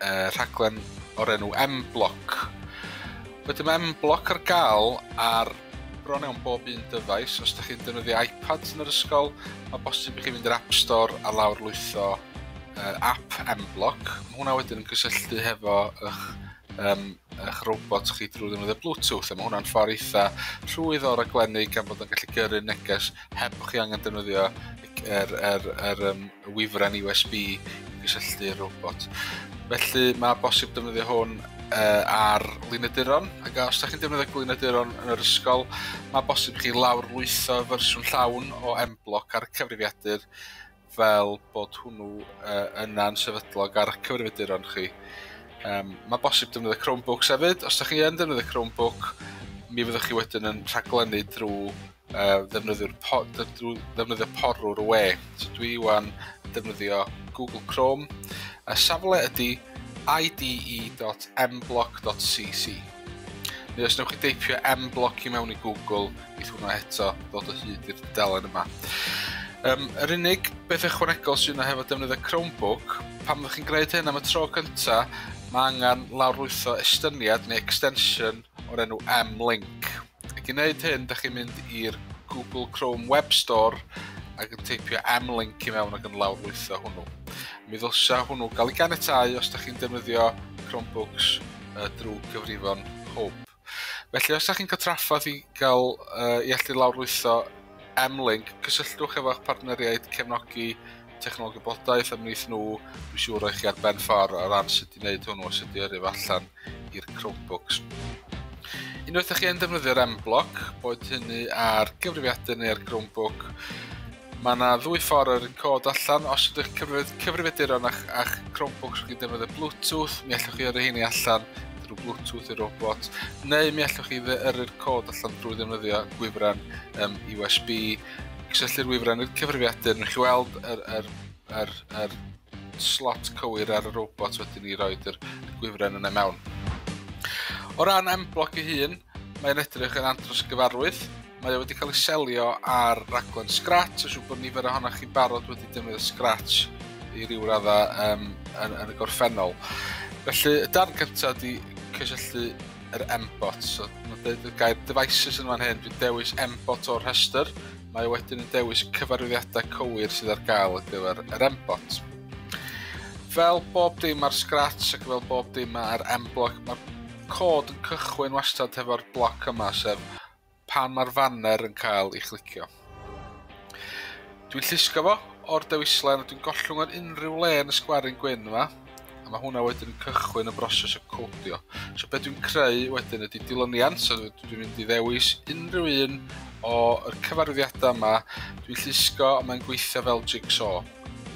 uh, rhaglen o'r enw M-Block. Wedyn mae M-Block ar gael ar bron iawn bob un dyfais. Os ydych chi'n defnyddio iPad yn yr ysgol, mae bosib i chi fynd i'r App Store a lawr lwytho uh, app M-Block. Mae hwnna wedyn yn cysylltu hefo eich, um, eich robot chi drwy ddefnyddio Bluetooth. Mae hwnna'n ffordd eitha rhwydd o raglennu gan bod yn gallu gyrru neges heb chi angen defnyddio er, er, er um, y wifren USB i gysylltu'r robot. Felly mae bosib defnyddio hwn uh, ar lynaduron, ac os ydych chi'n defnyddio glynaduron yn yr ysgol, mae bosib chi lawr lwytho fersiwn llawn o M-Block ar y cyfrifiadur fel bod hwnnw uh, yna'n sefydlog ar y cyfrifiaduron chi. Um, mae bosib defnyddio Chromebooks hefyd. Os ydych chi yn defnyddio Chromebook, mi fyddwch chi wedyn yn rhaglennu drwy uh, ddefnyddio'r po, ddefnyddio porwr y we. So dwi iwan defnyddio Google Chrome. A safle ydy ide.mblock.cc. Neu os newch chi deipio mblock i mewn i Google, bydd hwnna eto ddod o hyd i'r delen yma. Um, yr unig beth ychwanegol sy'n yna hefo defnyddio Chromebook, pan fyddwch chi'n gwneud hyn am y tro cynta, mae angen lawrlwytho estyniad neu extension o'r enw M-Link. Ac i wneud hyn, da chi'n mynd i'r Google Chrome Web Store ac yn teipio M-Link i mewn ac yn lawrlwytho hwnnw. Mi ddylsa hwnnw gael ei ganiatau os da chi'n defnyddio Chromebooks uh, drwy cyfrifon hwb. Felly, os da chi'n cael traffaeth i gael uh, i allu lawrlwytho M-Link, cysylltwch efo'ch partneriaid cefnogi technoleg gwybodaeth am wneud nhw, dwi'n siŵr o'i chi ar ben ffordd o ran sut i wneud hwnnw a sut i yrru allan i'r Chromebooks. Unwaith ydych chi'n defnyddio'r M-Block, boed hynny ar gyfrifiadur neu ar Chromebook, Mae yna ddwy ffordd o'r cod allan. Os ydych cyfrif cyfrifiaduron a'ch, a'ch Chromebooks wedi'n defnyddio Bluetooth, mi allwch chi yrru heini allan drwy Bluetooth i'r robot, neu mi allwch chi yrru'r cod allan drwy ddefnyddio gwifren um, USB Cysylltu'r wifren i'r cyfrifiadur, newch chi weld yr, yr, yr, yr slot cywir ar y robot wedyn ni roed yr gwifren yna mewn. O ran M-Block ei hun, mae'n edrych yn andros gyfarwydd. Mae wedi cael ei selio ar raglen Scratch, a siw bod nifer ohonoch chi'n barod wedi defnyddio Scratch i ryw radda um, yn, yn y gorffennol. Felly, y darn cyntaf ydy cysylltu yr embot. So, mae'n dweud y gair devices yn fan hyn, dwi'n dewis embot o'r rhestr. Mae wedyn yn dewis cyfarwyddiadau cywir sydd ar gael ar gyfer yr embot. Fel bob dim ar Scratch ac fel bob dim ar M-Block, mae'r cod yn cychwyn wastad hefo'r bloc yma, sef pan mae'r faner yn cael ei chlicio. Dwi'n llusgo fo o'r dewislen a dwi'n gollwng ar unrhyw le yn y sgwarin gwyn yma a mae hwnna wedyn yn cychwyn y broses o codio. So beth dwi'n creu wedyn ydy dilyniant, so dwi'n mynd i ddewis unrhyw un o'r cyfarwyddiadau yma, dwi'n llusgo a mae'n gweithio fel jigsaw.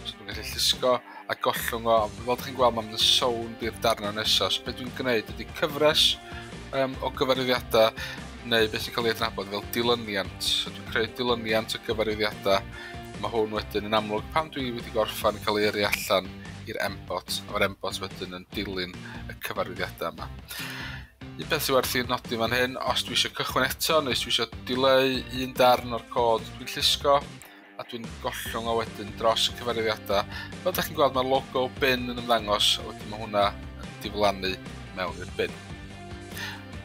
So dwi'n gallu llusgo a gollwng o, ond fel chi'n gweld mae'n sownd byr darnau nesaf. So beth dwi'n gwneud ydy cyfres um, o gyfarwyddiadau neu beth sy'n cael ei adnabod fel dilyniant. So dwi'n creu dilyniant o gyfarwyddiadau. Mae hwn wedyn yn amlwg pan dwi wedi gorffan yn cael ei yrru allan i'r embot, a mae'r embot wedyn yn dilyn y cyfarwyddiadau yma. Un peth sy'n werth i'n nodi fan hyn, os dwi eisiau cychwyn eto neu os dwi eisiau dileu un darn o'r cod dwi'n llusgo, a dwi'n gollwng o wedyn dros y cyfarwyddiadau. Fel ydych chi'n gweld mae'r logo bin yn ymddangos a wedyn mae hwnna yn diflannu mewn i'r bin.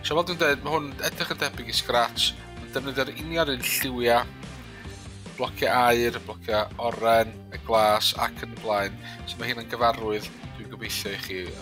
So fel dwi'n dweud, mae hwn edrych yn debyg i Scratch, mae'n defnyddio'r union un lliwiau, blociau air, blociau oren, y glas ac yn y blaen. So mae hyn yn gyfarwydd, dwi'n gobeithio i chi,